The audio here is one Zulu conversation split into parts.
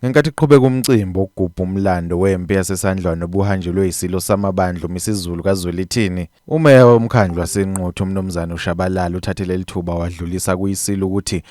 Ngenkathi kuqhubeka umcimbi wokugubha umlando wempi yaseSandlwana obuhanjelwe yiSilo samaBandla uMisizulu kaZwelithini, uMeya woMkhandlu waseNquthu uMnumzane uShabalala uthathe leli thuba wadlulisa kuyiSilo ukuthi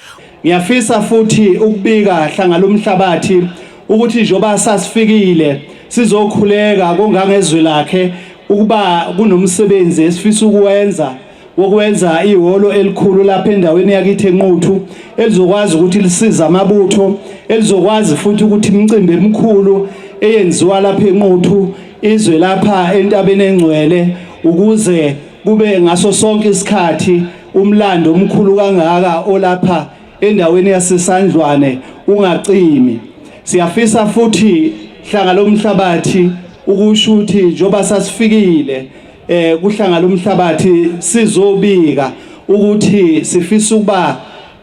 Ngiyafisa futhi ukubika hlanga lomhlabathi ukuthi njengoba sasifikile sizokhuleka kongangezwi lakhe ukuba kunomsebenzi esifisa ukuwenza wokwenza ihholo elikhulu lapha endaweni yakithi enquthu elizokwazi ukuthi lisize amabutho elizokwazi futhi ukuthi imicimbi emikhulu eyenziwa lapha enquthu izwe lapha entabeni engcwele ukuze kube ngaso sonke isikhathi umlando omkhulu kangaka olapha endaweni yasesandlwane ungacimi siyafisa futhi hlanga lomhlabathi ukusho ukuthi njoba sasifikile eh kuhlangana umhlabathi sizobika ukuthi sifisa ukuba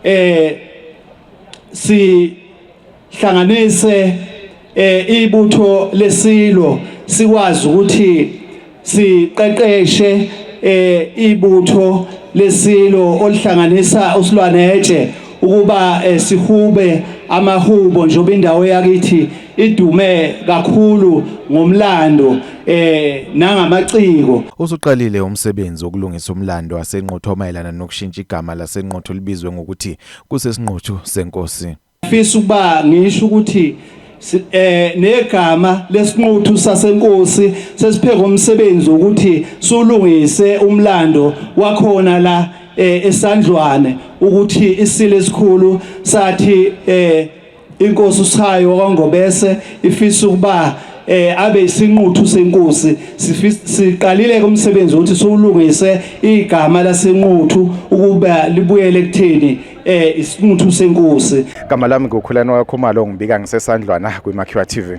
eh sihlanganise eh ibutho lesilo sikwazi ukuthi siqeqeshe eh ibutho lesilo olihlanganisa usilwanetshe ukuba eh, sihube amahubo njengoba indawo yakithi idume kakhulu ngomlando eh nangamaciko usuqalile umsebenzi wokulungisa umlando wasenquthu omayelana nokushintsha igama lasenquthu libizwe ngokuthi kusesinquthu senkosi fisa ukuba ngisho ukuthi eh negama lesinquthu sasenkosi sesipheka umsebenzi ukuthi sulungise umlando wakhona la eh, esandlwane ukuthi isile esikhulu sathi eh inkosi uShayi wakwaNgobese ifisa ukuba eh abe isinquthu senkosi siqalile kumsebenzi ukuthi siwulungise igama lasenquthu ukuba libuyele kuthini eh isinquthu senkosi gama lami ngokhulana wakho malo ngibika ngisesandlwana kwiMakhiwa TV